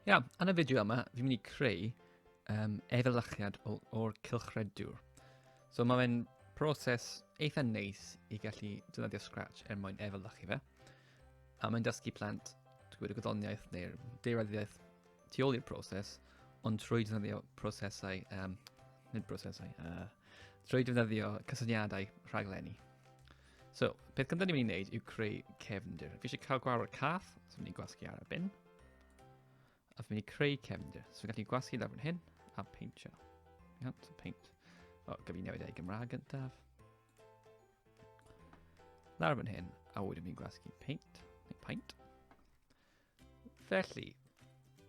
Iawn, yn y fideo yma, fi'n mynd i creu um, efelychiad o'r cylchredwr. So mae fe'n proses eitha neis i gallu defnyddio Scratch er mwyn efelychu fe. A mae'n dysgu plant gwybod y gwyddoniaeth neu'r deiraddiaeth tu ôl i'r proses, ond trwy defnyddio prosesau, um, nid prosesau, uh, trwy defnyddio cysyniadau rhaglenni. So, peth gyntaf ni'n mynd i'n neud yw creu cefndir. Fi eisiau cael gwawr y cath, so mynd i'n gwasgu ar y bin. A fi'n mynd i creu cefndir. So, fi'n gallu gwasgu lawr fan hyn, a peintio. Iawn, so peint. O, gyfi newid ei Gymraeg gyntaf. Lawr fan hyn, a wedyn fi'n gwasgu peint, neu paint. Felly,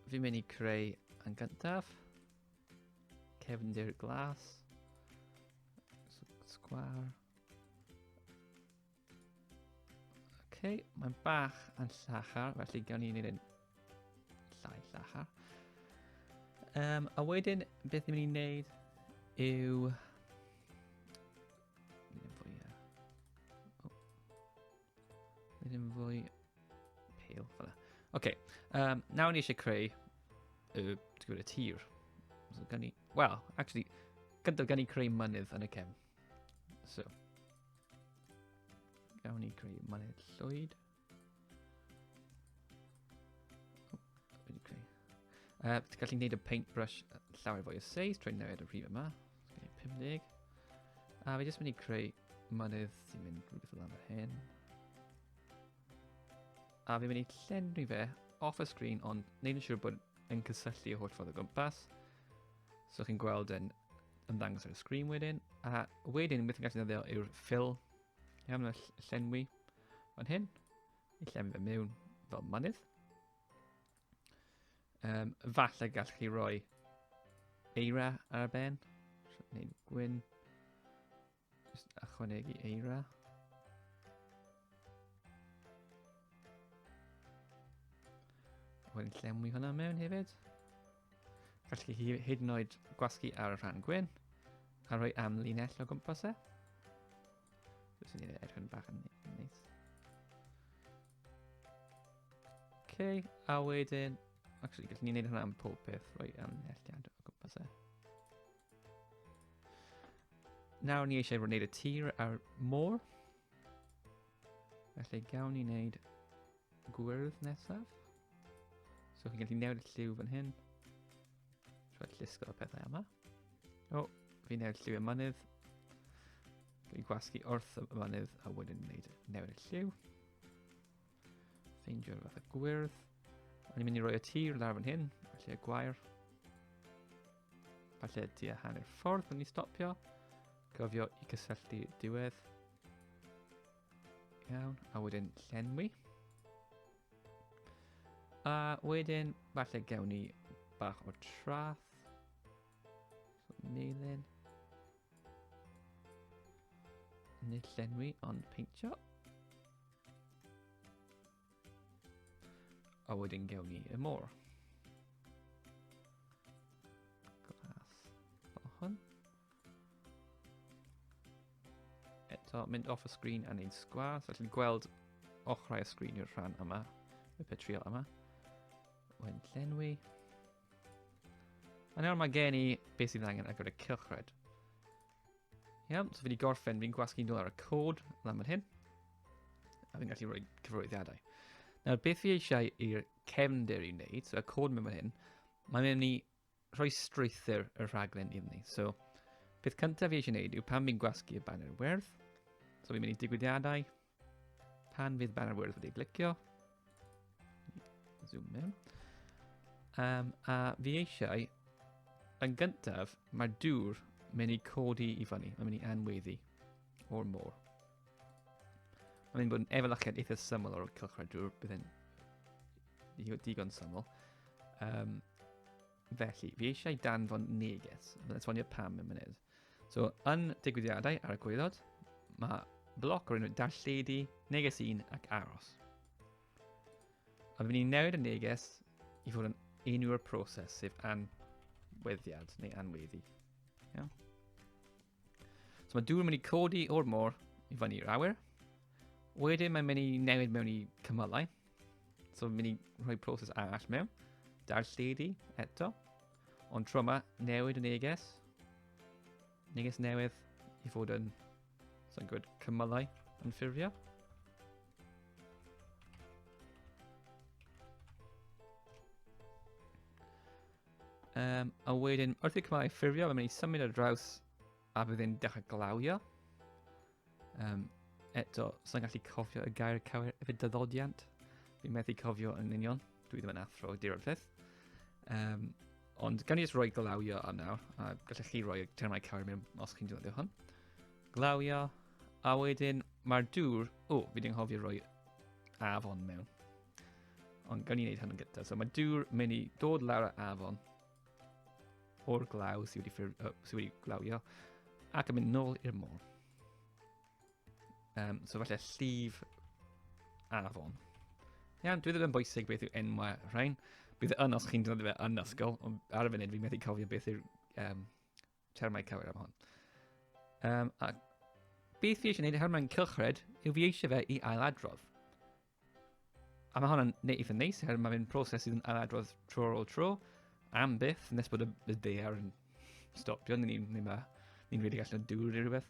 fi'n mynd i creu yn gyntaf. Cefndir glas. Sgwar. okay, mae'n bach yn llachar, felly gawn ni'n un llai llachar. Um, a wedyn, beth ni'n mynd i wneud yw... Mynd yn fwy... Oh. Nid yn fwy pale, fel Oce, um, nawr ni eisiau creu y, y tir. So, gan ni, well, actually, gyda gan ni creu mynydd yn y cefn. So, gawn ni creu mynydd llwyd. Uh, ti'n gallu gwneud y paintbrush llawer fwy o seis trwy newid y rhif yma. Okay, 50. A fi jyst mynd i creu mynydd sy'n mynd rhywbeth o dan fy hen. A fi'n mynd i llenwi fe off y sgrin ond neud yn siŵr bod yn cysylltu y holl ffordd o gwmpas. So chi'n gweld yn ymddangos ar y sgrin wedyn. A wedyn beth yn gallu ddefnyddio yw'r ffil. Iawn, y llenwi fan hyn. I llenwi fe mewn fel mynydd. Um, falle gallwch chi roi eira ar y ben. Neu gwyn. Just ychwanegu eira. Wedyn llenwi hwnna mewn hefyd. Gallwch chi hyd yn oed gwasgu ar y rhan gwyn a rhoi amlinell o gwmpas e. Dwi'n sy'n ei edrych yn bach yn neis. Okay, a wedyn... Actually, gallwn ni wneud hwnna am pob peth, rhoi ymhelltiad o gwmpas e. Nawr ni eisiau wneud y tir a'r môr. Felly gawn ni wneud gwyrdd nesaf. So chi'n gallu newid y lliw fan hyn. Rhaid llusgo y pethau yma. O, fi newid lliw y mynydd. Dwi'n gwasgu wrth y mynydd a wedyn wneud newid y lliw. Ffeindio'r fath o gwyrdd. O'n i'n mynd i roi y tir lawr fan hyn, a lle gwair. A lle tua hanner ffordd o'n i stopio. Gofio i gysylltu diwedd. Iawn, a wedyn llenwi. A wedyn, falle gewn ni bach o trath. So, melin. Nid llenwi ond peintio. A wedyn gewn ni y môr. Glas fel hwn. Eto, mynd off y sgrin a neud sgwar. So, allwn gweld ochrau y sgrin yw'r rhan yma, y petriol yma. Wedyn llenwi. A nawr mae gen i beth sydd angen ar gyfer y cylchred. Iawn, so fi wedi gorffen, fi'n gwasgu'n dod ar y cod lan fan hyn. A fi'n gallu rhoi cyfroeddiadau. Nawr, beth fi eisiau i'r cefnder i wneud, so y cod mewn fan hyn, mae'n mynd i rhoi strwythyr y rhaglen iddyn ni. So, peth cyntaf fi eisiau gwneud yw pan fi'n gwasgu y banner werdd, so fi'n mynd i digwyddiadau, Pan fydd Banner Words wedi glicio, zoom mewn, um, a fi eisiau, yn gyntaf, mae dŵr mynd i codi i fyny, mae'n mynd i anweddu, or more. Mae'n mynd bod yn efelychiad eitha syml o'r cylchred dŵr, bydd yn digon syml. Um, Felly, fi eisiau danfon neges. Mae'n esbonio pam yn munud. So, yn digwyddiadau ar y gwyddod, mae bloc o'r enw darlledu, neges un ac aros. A fi'n ni'n newid y neges i fod yn enw'r proses, sef anweddiad neu anweddi. Iawn? So mae dŵr yn mynd i codi o'r môr i fyny i'r awyr. Wedyn mae'n mynd i newid mewn i cymylau. So mae'n mynd i rhoi proses arall mewn. Da'r lledi eto. Ond tro yma, newid y neges. Neges newydd i fod yn, so'n gwybod, cymylau yn ffurfio. Um, a wedyn, wrth i Cymraeg ffurfio, mae'n mynd i symud ar draws a bydd e'n dechrau glawio. Um, eto, sy'n gallu cofio y gair cywir efo dyddodiant. Fi'n methu cofio yn union. Dwi ddim yn athro di'r peth. Um, ond gan i jyst roi glawio ar nawr, a gallech chi roi termau cywir mewn os chi'n dweud hwn. Glawio, a wedyn mae'r dŵr... O, fi ddim hofio roi afon mewn. Ond gawn ni wneud hwn yn gyntaf. So mae dŵr mynd i dod lawr y afon o'r glaw sydd wedi, ffyr, uh, sydd wedi glawio ac yn mynd nôl i'r môr. Um, so falle llif afon. Iawn, dwi ddim yn bwysig beth yw enwau rhain. Bydd yn os chi'n dod i fe yn ysgol, ond ar y funud fi'n methu cofio beth yw'r um, termau cywir am hon. Um, a beth fi eisiau gwneud, her mae'n cylchred, yw fi eisiau fe i ailadrodd. A mae hwn yn neud eitha neis, oherwydd mae fe'n proses sydd yn aladrodd tro ar ôl tro, am byth, nes bod y, y ddear yn stopio, ni, ni, ma, ni'n rili gallu dŵr neu rhywbeth.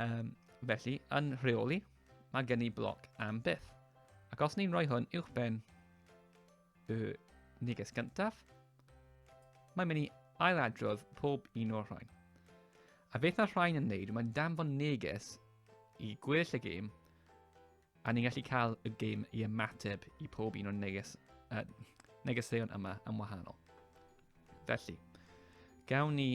Um, felly, yn rheoli, mae gen i bloc am byth. Ac os ni'n rhoi hwn uwch ben y neges gyntaf, mae'n mynd i ailadrodd pob un o'r rhain. A beth mae'r rhain yn neud, mae'n danfon neges i gweddill y gêm A ni'n gallu cael y gêm i ymateb i pob un o'n neges, uh, negeseuon yma yn wahanol. Felly, gawn ni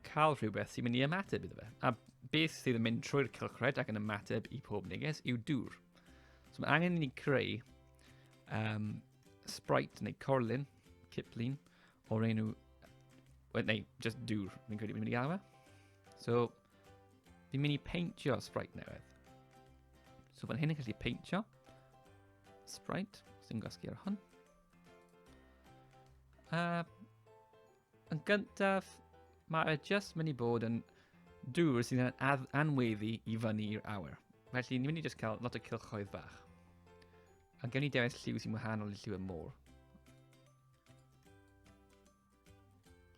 cael rhywbeth sy'n mynd i ymateb iddo fe. A beth sydd yn mynd trwy'r cylchred ac yn ymateb i pob neges yw dŵr. So mae angen i ni creu um, sprite neu corlun, ciplun, o'r enw, neu just dŵr, fi'n credu fi'n mynd i gael fe. So, Fi'n mynd i peintio sprite newydd. So fan hyn yn gallu peintio sprite sy'n gosgu ar hwn. Uh, yn gyntaf, mae e just mynd i bod yn dŵr sy'n an anweddu i fyny i'r awyr. Felly, ni'n mynd i just cael lot o cilchoedd fach. A gen i dewis lliw sy'n wahanol i lliw y môr.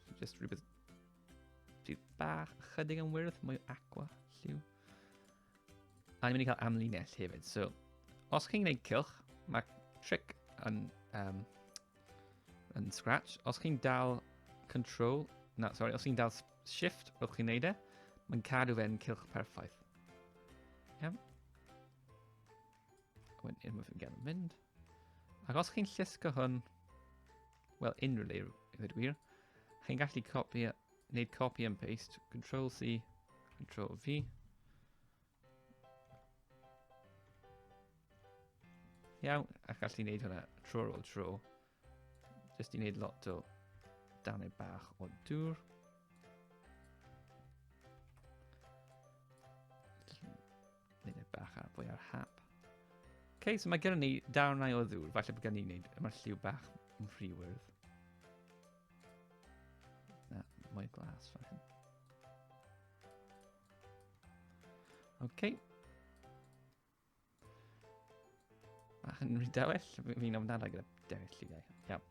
So just rhywbeth rhyw bach chydig yn wyrdd, mwy aqua, lliw. A ni'n mynd i cael amlinell hefyd. So, os chi'n gwneud cilch, mae trick yn, um, yn Scratch. Os chi'n dal control, na, sorry, os chi'n dal shift, rwy'ch chi'n neud e, mae'n cadw fe'n cilch perffaith. Iawn. Wedyn, unwaith yn gael mynd. Ac os chi'n llusgo hwn, Wel, unrhyw le, i ddweud gwir. Chi'n gallu copi, wneud copy and paste, Control C, Control V. Iawn, a gallu wneud hwnna tro ar ôl tro. Jyst i wneud lot o danau bach o dŵr. Gwneud e bach ar fwy ar hap. Okay, so mae gyda ni darnau o ddŵr. Falle bod gen i'n gwneud yma'r lliw bach yn rhy wyrdd. Na, mwy glas fan hyn. Okay. Bach yn rhy dewell. Fi'n ofnadau gyda dewell lliwiau. Iawn.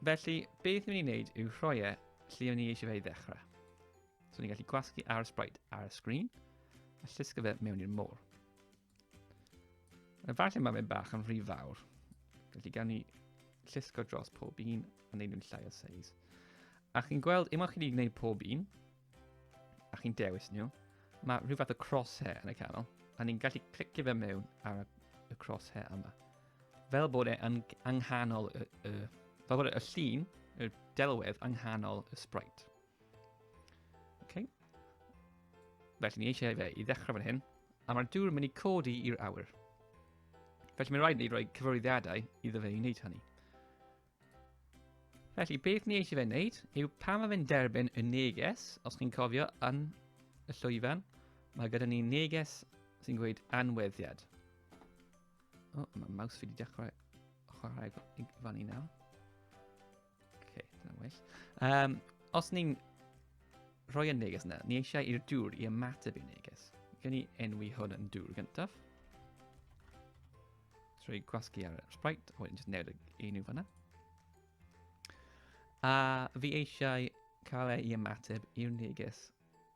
Felly, beth ni'n mynd i wneud yw rhoi e lle o'n i eisiau fe i ddechrau. So ni'n gallu gwasgu ar y sprite ar y sgrin a llusgo fe mewn i'r môr. Efallai mae fe'n bach yn rhy fawr, felly gan ni llusgo dros pob un a wneud nhw'n llai o seis. A chi'n gweld, unwaith chi wedi gwneud pob un, a chi'n dewis nhw, mae rhyw fath o crosshair yn y canol, a ni'n gallu clicio fe mewn ar y crosshair yma. Fel bod e yn anghanol y, y, fel bod e y llun, y delwedd anghanol y sprite. Okay. Felly ni eisiau fe i ddechrau fan hyn, a mae'r dŵr yn mynd i codi i'r awyr. Felly mae'n rhaid ni roi cyfarwyddiadau iddo fe i wneud hynny. Felly, beth ni eisiau fe wneud yw pan mae fe'n derbyn y neges, os chi'n cofio yn y llwyfan, mae gyda ni neges sy'n gweud anweddiad. O, oh, mae maws fi wedi dechrau chwarae i fan i nawr. Ok, dyna well. Um, os ni'n rhoi y neges yna, ni eisiau i'r dŵr i ymateb i'r neges. Gen i enwi hwn yn dŵr gyntaf. Trwy gwasgu ar y sprite, o wedyn jyst newid y un i'w fanna. A fi eisiau cael ei ymateb i'r neges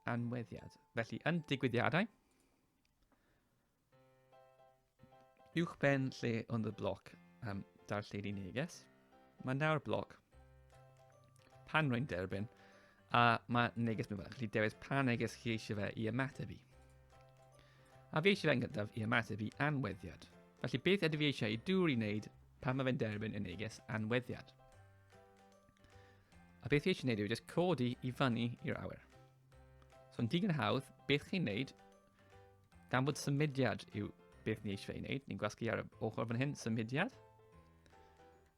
anweddiad. Felly, yn digwyddiadau, uwch ben lle ond y bloc um, darlledu neges. Mae nawr blog. Pan rwy'n derbyn, a mae neges mi fan, chi dewis pa neges chi eisiau fe i ymateb i. A fi eisiau fe yn gyntaf i ymateb i anweddiad. Felly beth ydw i eisiau i dŵr i wneud pan mae fe'n derbyn y neges anweddiad? A beth i eisiau wneud yw just codi i fyny i'r awyr. So yn digon hawdd, beth chi'n wneud Gan bod symudiad yw beth ni eisiau ei wneud, ni'n gwasgu ar y ochr fan hyn, symudiad.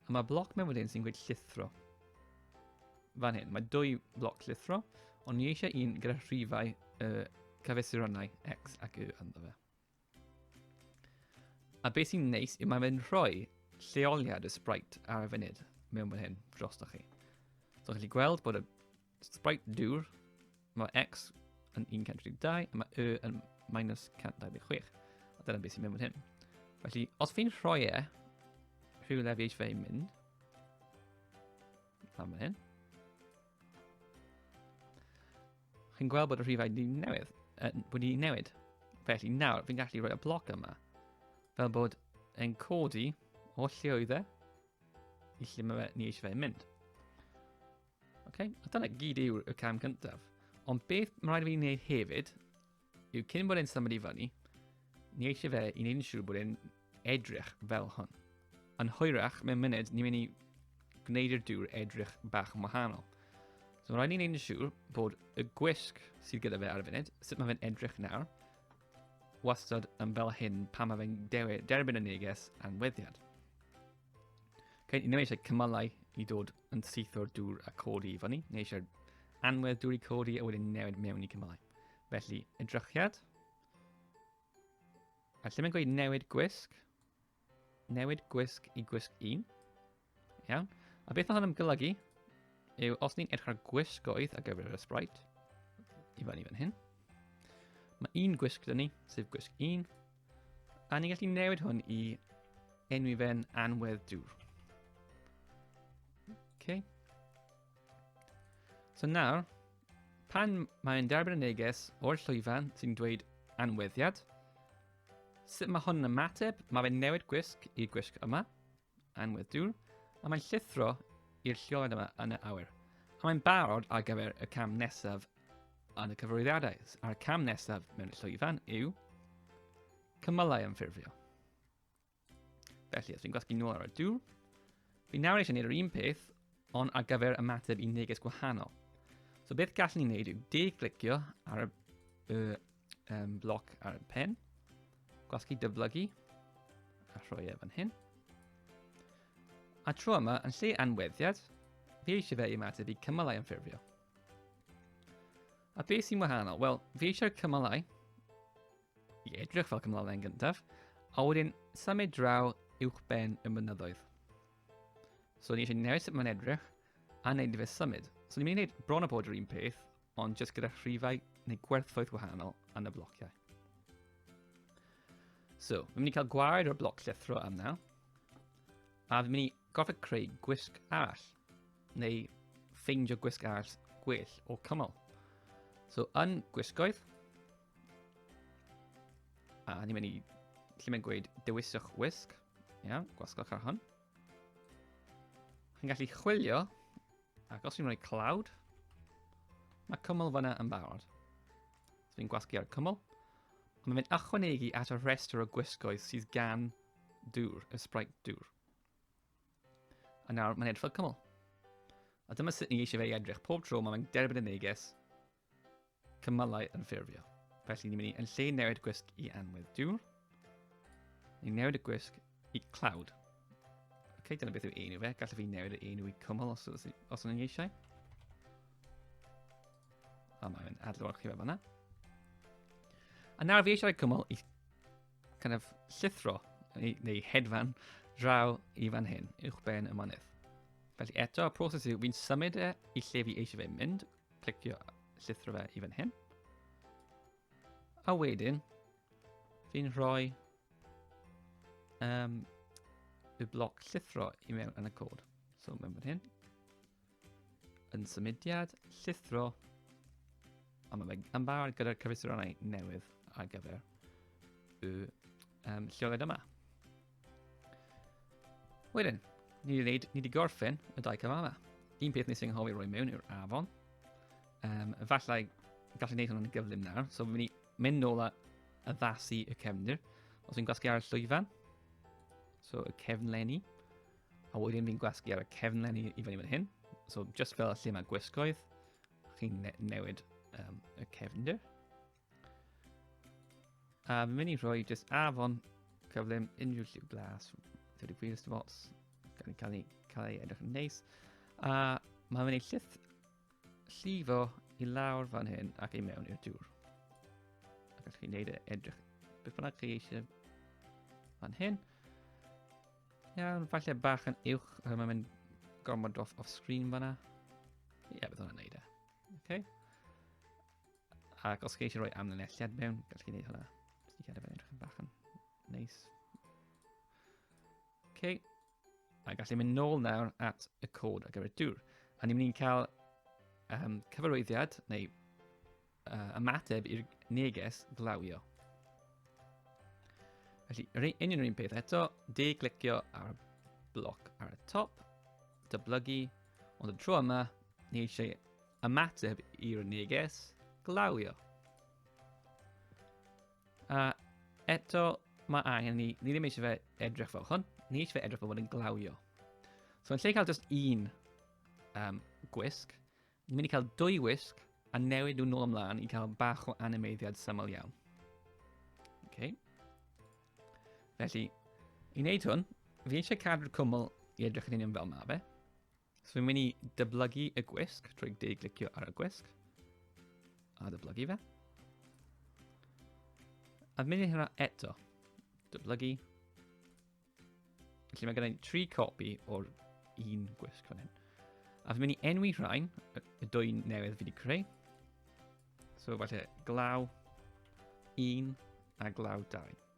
A mae bloc mewn wedyn sy'n gweud llithro. Fan hyn, mae dwy bloc llithro, ond ni eisiau un gyda rhifau y uh, cyfesurannau X ac Y ynddo fe. A beth sy'n neis yw mae fe'n rhoi lleoliad y sprite ar y funud mewn fan hyn drostoch chi. So chi'n gallu gweld bod y Sprite dŵr. Mae X yn 132, a mae Y yn minus 126. A dyna beth sy'n mynd fan hyn. Felly, os fi'n rhoi e, rhyw lefi eich fe i mynd. A mae hyn. Chi'n gweld bod y rhifau wedi newid, yn, wedi newid. Felly nawr, fi'n gallu rhoi y bloc yma. Fel bod e'n codi o lle oedd e, i lle mae fe, ni eisiau fe mynd. Okay. A dyna gyd yw'r y cam gyntaf. Ond beth mae'n rhaid i fi wneud hefyd, yw cyn bod e'n symud i fyny, ni eisiau fe i wneud yn siŵr bod e'n edrych fel hwn. Yn hwyrach, mewn munud, ni'n mynd i gwneud i'r dŵr edrych bach yn wahanol. So mae'n rhaid i ni wneud yn siŵr bod y gwisg sydd gyda fe ar y funud, sut mae fe'n edrych nawr, wastad yn fel hyn pan mae fe'n derbyn y neges anweddiad. Okay, ni ddim eisiau cymylau i dod yn syth o'r dŵr a codi i fyny, neu eisiau anwedd dŵr i codi a wedyn newid mewn i cymylau. Felly, edrychiad. A lle mae'n gweud newid gwisg, newid gwisg i gwisg 1. Iawn. A beth mae hwn yn golygu yw os ni'n edrych ar gwisgoedd ar gyfer y sprite, i fan i fan hyn, mae un gwisg dyn ni, sef gwisg 1, A ni'n gallu newid hwn i enwi fe'n anwedd dŵr. Okay. So nawr, pan mae'n derbyn y neges o'r llwyfan sy'n dweud anweddiad, sut mae hwn yn ymateb? Mae fe'n newid gwisg i gwisg yma. Anwedd dŵr, a mae'n llithro i'r lleoliad yma yn y awyr. A mae'n barod ar gyfer y cam nesaf yn y cyfarwyddiadau. A'r cam nesaf mewn llwyfan yw cymylau ymffurfio. Felly, os fi'n gwasgu nôl ar y dŵr, fi nawr eisiau gwneud yr un peth, ond ar gyfer ymateb i neges gwahanol. So beth gallwn ni wneud yw de-glicio ar y, y um, bloc ar y pen, gwasgu dyflygu, a rhoi e fan hyn. A tro yma, yn lle anweddiad, fi eisiau fe i ymateb i cymalau yn ffurfio. A beth sy'n wahanol? Wel, fi eisiau'r cymalau i edrych fel cymalau yn gyntaf, a wedyn symud draw uwch ben y mynyddoedd. So ni eisiau newid sut mae'n edrych a wneud fe symud. So ni'n mynd i wneud bron o bod yr un peth, ond jyst gyda rhifau neu gwerthoedd wahanol yn y blociau. So, fi'n mynd i cael gwared o'r bloc llithro am nawr, a fi'n mynd i gorfod creu gwisg arall, neu ffeindio gwisg arall gwell o cymol. So, yn gwisgoedd, a ni'n mynd i lle mae'n gweud dewiswch wisg, iawn, gwasgwch ar hwn. Chi'n gallu chwilio Ac os fi'n rhoi cloud, mae cwmwl fyna yn barod. So fi'n gwasgu ar y cwmwl. Ond mae'n ychwanegu at y rhestr o gwisgoedd sydd gan dŵr, y sprite dŵr. A nawr mae'n edrych fel cwmwl. A dyma sut ni eisiau fe i edrych. Pob tro mae'n derbyn y neges, cymalau yn ffurfio. Felly ni'n mynd i yn lle newid gwisg i anwedd diwr, ni'n newid y gwisg i cloud. Ok, dyna beth yw enw fe. Gallaf fi newid y enw i cymal os, os, os yn eisiau. A mae'n adlewyrch chi fe fanna. A nawr fi eisiau cymal i kind of llithro neu, neu hedfan draw i fan hyn, uwch ben y manydd. Felly eto, y proses yw fi'n symud e i lle fi eisiau fe mynd, Clicio llithro fe i fan hyn. A wedyn, fi'n rhoi um, y bloc llithro i mewn yn y cod. So mewn fan hyn. Yn symudiad, llithro. A mae fe yn barod gyda'r cyfesurannau newydd ar gyfer y um, lleoliad yma. Wedyn, ni wedi wneud, ni wedi gorffen y dau cyfamau. Un peth nes i'n hoffi roi mewn yw'r afon. Um, efallai gallu gwneud hwnna'n gyflym nawr, so fi'n mynd nôl a addasu y cefndir. Os fi'n gwasgu ar y llwyfan, so y cefnlenni, a wedyn fi'n gwasgu ar y cefnlenni i fyny fan hyn, so just fel y lle mae gwisgoedd, chi'n ne newid um, y cefndir. A fi'n mynd i rhoi just afon cyflym unrhyw lliw glas, 30 gwir ystafos, gan cael ei, cael ei edrych yn neis. A mae'n mynd i llith llifo i lawr fan hyn ac ei mewn i'r dŵr. Ac allwch chi wneud e edrych beth bynnag chi eisiau fan hyn. Iawn, falle bach yn uwch, oherwydd mae'n mynd gormod off, off screen fanna. Ie, yeah, bydd hwnna'n neud e. Okay. Ac os chi eisiau rhoi amlinelliad mewn, gallwch chi wneud hwnna. Jyst i cadw fe'n edrych yn bach yn neis. OK. A gallu mynd nôl nawr at y cod ar gyfer y dŵr. A ni'n mynd i'n cael um, cyfarwyddiad neu uh, ymateb i'r neges glawio. Felly, yr union yr un peth eto, de glicio ar y bloc ar y top, dyblygu, ond y tro yma, ni eisiau Ymateb i'r neges glawio. A eto, mae angen ni, ni ddim eisiau fe edrych fel hwn, ni eisiau fe edrych fel bod yn glawio. So yn lle cael just un um, gwisg, ni'n mynd i cael dwy wisg a newid nhw'n ôl ymlaen i cael bach o animeiddiad syml iawn. Okay. Felly, i wneud hwn, fi eisiau cadw'r cwmwl i edrych yn union fel mae fe. So fi'n mynd i dyblygu y gwisg trwy deiglicio ar y gwisg. A dyblygu fe. A mynd i hynna eto. Dyblygu. Felly mae gen tri copi o'r un gwisg fan hyn. A fi'n mynd i enwi rhain, y dwy newydd fi wedi creu. So falle glaw 1 a glaw 2.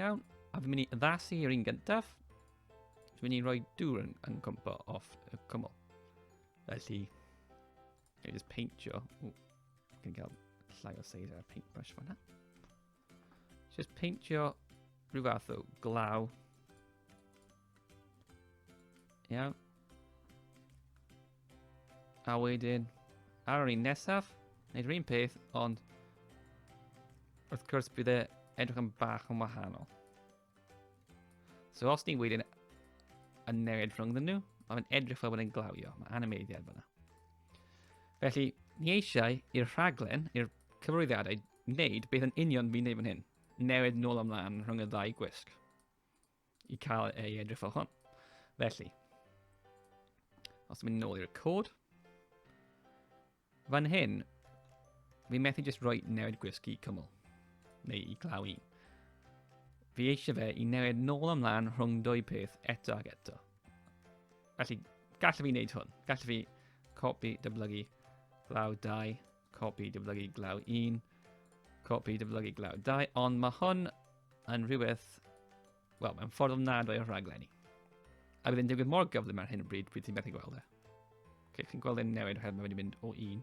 Iawn, a fi'n mynd i addasu i'r un gyntaf. Dwi'n mynd i roi dŵr yn, yn cwmpo off y cwmwl. Felly, I just paint you. Ooh, can get a slider paintbrush for that. Just peintio rhyw fath o glaw. Iawn. A wedyn, ar yr un nesaf, wneud yr un peth, ond wrth gwrs bydd e edrych yn bach yn wahanol. So os ni wedyn yn newid rhwngddyn nhw, mae fe'n edrych fel bod e'n glawio. Mae animeiddiad fyna. Felly, ni eisiau i'r rhaglen, i'r cyfrwyddiadau wneud beth yn union fi'n neud fan hyn. Newid nôl ymlaen rhwng y ddau gwisg. I cael ei edrych fel hwn. Felly. Os mynd nôl i'r cod. Fan hyn. Fi'n methu jyst rhoi newid gwisg i cymol. Neu i glaw un. Fi eisiau fe i newid nôl ymlaen rhwng dwy peth eto ac eto. Felly, gallaf fi wneud hwn. Gallaf fi copi, dyblygu, glaw 2, Copi dyblygu glaw 1. Copi dyblygu glaw 2. Ond mae hwn yn rhywbeth... Wel, mae'n ffordd ofnadwy o'r rhaglenni. A bydd yn digwydd mor gyflym ar hyn o bryd pryd ti'n methu gweld e. Okay, chi'n gweld e'n newid oherwydd mae wedi mynd o 1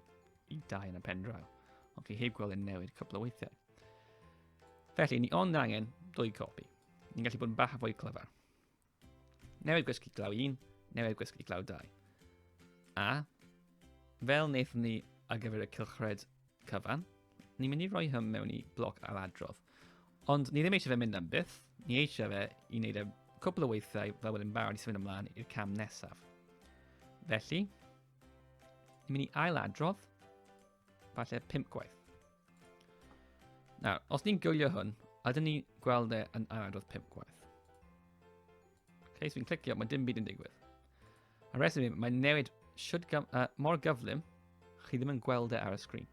i 2 yn y pen draw. Ond chi heb gweld e'n newid cwpl o weithiau. Felly, ni ond angen dwy copi. Ni'n gallu bod yn bach a fwy clyfar. Newid gwesty glaw 1, newid gwesty glaw 2. A, fel wnaethon ni ar gyfer y cylchred cyfan, ni'n mynd i roi hyn mewn i bloc ar adrodd. Ond ni ddim eisiau fe mynd am byth, ni eisiau fe i wneud e cwbl o weithiau fel wedyn barod i symud ymlaen i'r cam nesaf. Felly, ni'n mynd i ail adrodd, Falle pimp gwaith. Nawr, os ni'n gwylio hwn, ydyn ni gweld e yn aros pimp gwaith. Ok, so fi'n clicio, mae dim byd yn digwydd. A reswm i, mae'n newid should gyf uh, mor gyflym, chi ddim yn gweld e ar y sgrin.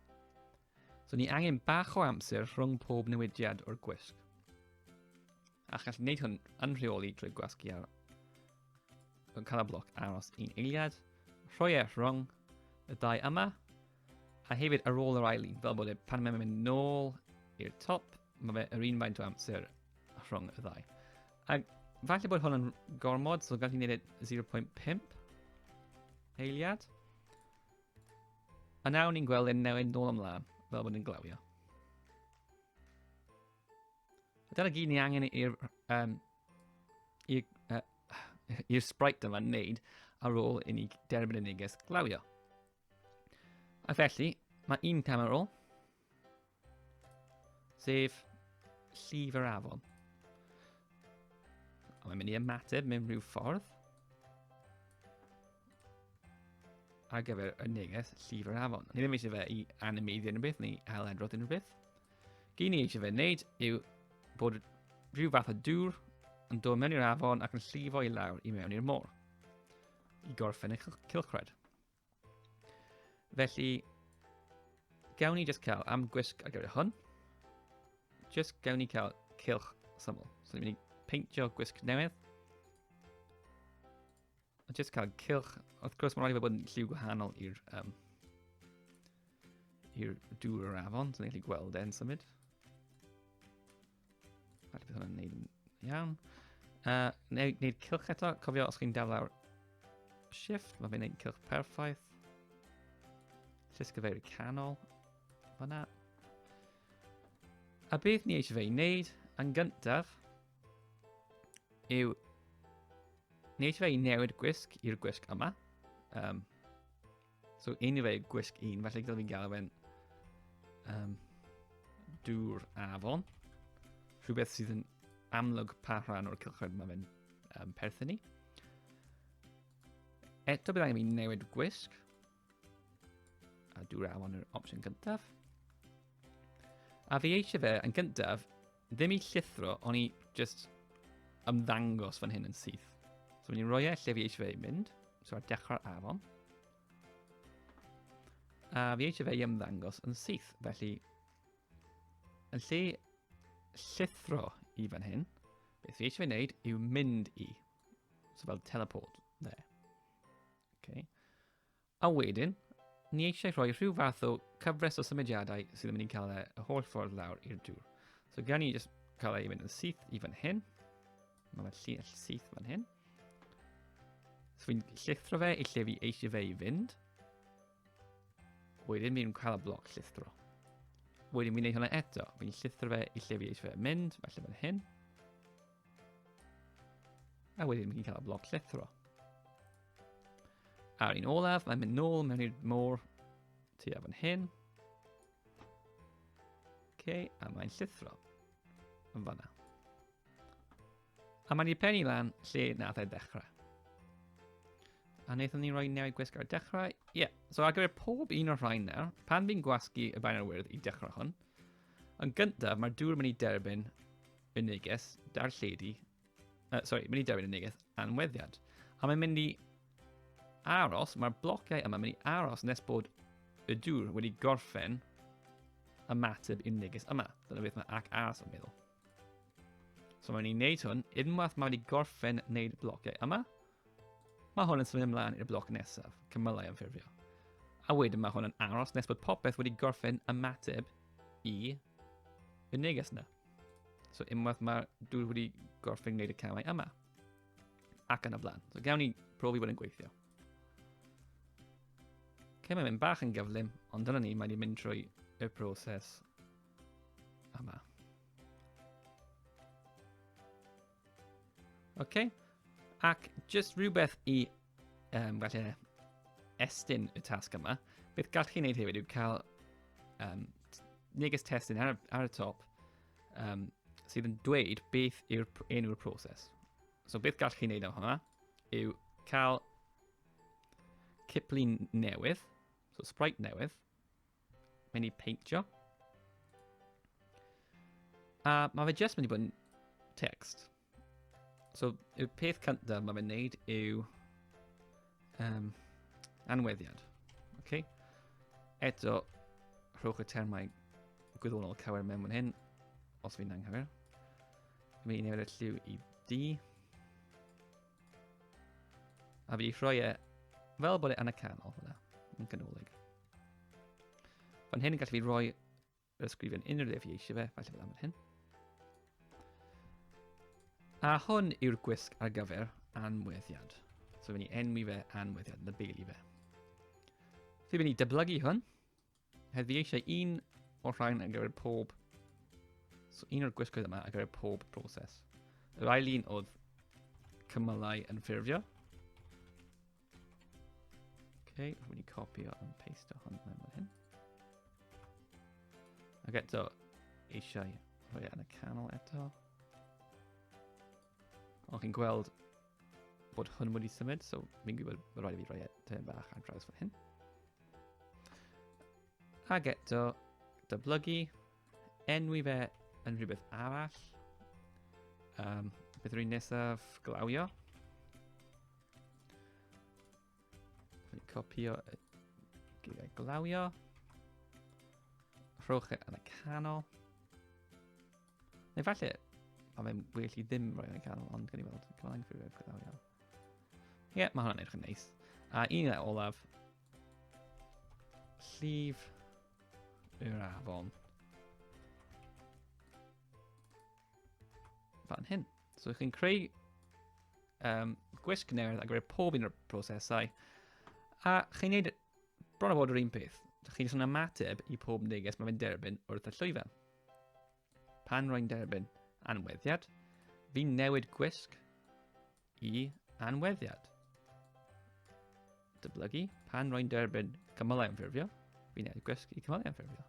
So ni angen bach o amser rhwng pob newidiad o'r gwisg. A chi'n gallu gwneud hwn yn rheoli trwy gwasgu ar Canol bloc aros un eiliad. Rhoi e rhwng y dau yma. A hefyd ar ôl yr ail un, fel bod e pan mae'n mynd nôl i'r top, mae fe yr un faint o amser rhwng y ddau. A falle bod hwn yn gormod, so gallwn ni wneud 0.5 e eiliad. A nawr ni'n gweld e'n newid nôl ymlaen, fel bod e'n glawio. Dyna gyd ni angen i'r um, i'r uh, i'r sprite yma wneud ar ôl i ni derbyn y neges glawio. A felly, mae un cam ar ôl, sef llif yr afon. A mae'n mynd i ymateb mewn rhyw ffordd ar gyfer y neges llif yr afon. Ni ddim eisiau fe i animeiddio unrhyw beth neu ail-edrodd unrhyw beth. Gyn ni eisiau fe wneud yw bod rhyw fath o dŵr yn dod mewn i'r afon ac yn llifo i lawr i mewn i'r môr i gorffen y cilchred. Felly, gawn ni just cael am gwisg ar gyfer hwn. Just gawn ni cael cilch syml. So ni'n mynd i peintio gwisg newydd. A jyst cael cylch, wrth gwrs mae'n rhaid i fe bod yn lliw gwahanol i'r um, i'r dŵr yr afon, so ni'n gallu gweld e'n symud. Rhaid bydd hwnna'n neud yn iawn. Uh, neud, neud cylch eto, cofio os chi'n dal lawr shift, mae fe'n neud cylch perffaith. Llusgyfeiru canol, fanna. A beth ni eisiau fe i wneud, yn gyntaf, yw wneud fe i newid gwisg i'r gwisg yma. Um, so un i fe gwisg un, felly gyda fi'n gael fe'n um, dŵr afon. Rhywbeth sydd yn amlwg pa rhan o'r cylchoedd mae fe'n um, perthyn ni. Eto bydd angen i fi newid gwisg. A dwi raw yn yr opsiwn gyntaf. A fi eisiau fe yn gyntaf, ddim i llithro, ond i just ymddangos fan hyn yn syth. So ni'n rhoi e lle fi eisiau fe i mynd. So ar dechrau'r afon. A fi eisiau fe i ymddangos yn syth, felly yn lle llithro i fan hyn, beth fi eisiau fe wneud yw mynd i. So fel teleport there. Okay. A wedyn, ni eisiau rhoi rhyw fath o cyfres o symudiadau sydd yn mynd i'n cael e y holl ffordd lawr i'r dŵr. So gan ni jyst cael ei mynd yn syth i fan hyn. Mae fe'n llull syth fan hyn. So fi'n llithro fe i lle fi eisiau fe i fynd. Wedyn fi'n cael y bloc llithro. Wedyn fi'n neud hwnna eto. Fi'n llithro fe i lle fi eisiau fe mynd, falle fan hyn. A wedyn ni'n cael y bloc llithro. A'r un olaf, mae'n mynd nôl mewn i'r môr tua fan hyn. OK, a mae'n llithro yn fanna. A mae'n i'r penny lan lle nath e dechrau. A wnaethon ni roi newid gwisg ar dechrau. Ie, yeah. so ar gyfer pob un o'r rhain nawr, pan fi'n gwasgu y bain ar wyrdd i dechrau hwn, yn gyntaf mae'r dŵr yn mynd i derbyn Y neges, darlledu, uh, sorry, mynd i dewin y neges anweddiad. A mae'n mynd i aros, mae'r blociau yma mynd i aros nes bod y dŵr wedi gorffen ymateb i'r neges yma. Dyna beth mae ac aros yn meddwl. So mae'n ni'n neud hwn, unwaith mae wedi gorffen wneud y blociau yma, mae hwn yn symud ymlaen i'r bloc nesaf, cymylau ymffurfio. A wedyn mae hwn yn aros nes bod popeth wedi gorffen ymateb i y neges yna. So unwaith mae dwi wedi gorffen gwneud y camau yma. Ac yn y blaen. So gawn ni profi bod yn gweithio. Okay, mae'n mynd bach yn gyflym, ond dyna ni, mae'n mynd trwy y proses yma. OK. Ac jyst rhywbeth i um, falle estyn y tasg yma. Beth gall chi wneud hefyd yw cael um, neges testyn ar, ar y top um, sydd yn dweud beth yw'r enw'r proses. So beth gall chi wneud am hwnna yw cael ciplun newydd, so sprite newydd, mynd i peintio. A mae fe jyst mynd i bod yn text. So, y peth cyntaf mae fe'n neud yw um, anweddiad. Okay? Eto, rhowch y termau gwyddonol cywir mewn fan hyn, os fi'n anghywir. Mae un o'r lliw i D. A fi wedi rhoi e fel bod e yn y canol hwnna, yn canolig. Fan hyn yn gallu fi roi yr ysgrifen unrhyw ddefu eisiau fe, falle fel am yr hyn. A hwn yw'r gwisg ar gyfer anweddiad. So fe ni enwi fe anweddiad, na beili fe. Fe fe ni dyblygu hwn. Heddi eisiau un o'r rhain ar gyfer pob. So un o'r gwisgoedd yma ar gyfer pob proses. Yr ail un oedd cymylau yn ffurfio. Okay, rwy'n mynd i copio yn paste o hwn mewn fel hyn. Ac eto, eisiau rhoi e yn y canol eto. Ond chi'n gweld bod hwn wedi symud, so fi'n gwybod bod rhaid i fi roi e tyn bach ar draws fel hyn. Ac eto, dyblygu, enwi fe yn rhywbeth arall. Um, beth rwy'n nesaf glawio. Copio gyda glawio. Rhowch e yn y canol. Neu falle, a mae'n well i ddim roi yn y canol, ond gan i weld, cymlaen i ffurfio glawio. Ie, yeah, mae hwnna'n edrych yn neis. A un o'r olaf, llif yr afon. Fan hyn. So chi'n creu um, gwisg newydd a gwneud pob un o'r prosesau, a chi'n gwneud bron o fod yr un peth. Chi'n sôn ymateb i pob neges mae fe'n derbyn wrth y llwyfan. Pan rwy'n derbyn anweddiad, fi'n newid gwisg i anweddiad. Dyblygu, pan rwy'n derbyn cymylau ymffurfio, fi'n ei gwesgu cymylau ymffurfio.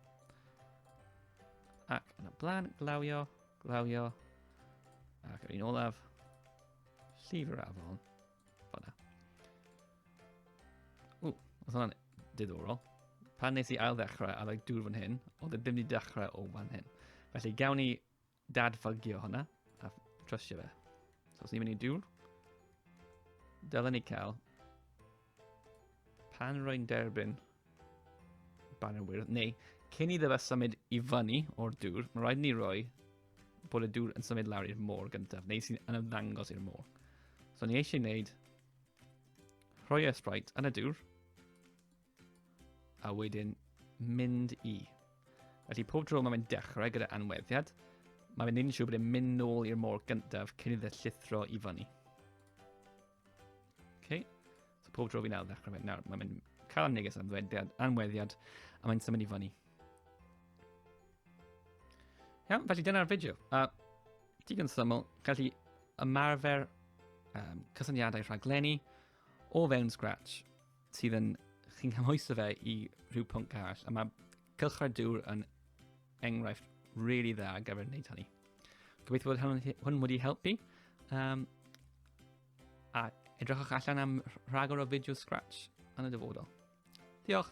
Ac yn y blaen, glawio, glawio, ac yr un olaf, llif yr afon, fanna. Ww, oedd hwnna'n diddorol. Pan nes i ail ddechrau ar y dŵr fan hyn, oedd e ddim wedi dechrau o fan hyn. Felly gawn ni dadfygio hwnna a trystio fe. So os ni'n mynd i dŵr, dylen ni cael pan rwy'n derbyn banner wyrdd, neu cyn iddo fe symud i fyny o'r dŵr, mae rhaid ni roi bod y dŵr yn symud lawr i'r môr gyntaf, neu sy'n yn ymddangos i'r môr. So ni eisiau gwneud rhoi e Sprite yn y dŵr, A wedyn mynd i. Felly pob tro mae'n mynd dechrau gyda anweddiad, mae fe'n neud yn siŵr bod e'n mynd nôl i'r môr gyntaf cyn iddo llithro i fyny. Okay. So pob tro fi'n awr ddechrau fe. Nawr, mae'n mynd cael am neges anweddiad, anweddiad a mae'n symud i fyny. Iawn, felly dyna'r fideo. A digon syml, gallu ymarfer um, cysyniadau rhaglenni o fewn Scratch. sydd yn, chi'n cymhwyso fe i rhyw pwnc arall, a mae cylchred dŵr yn enghraifft really dda ar gyfer wneud hynny. Gobeithio bod hwn wedi helpu. Um, a edrychwch allan am rhagor o fideo Scratch yn y dyfodol. Diolch!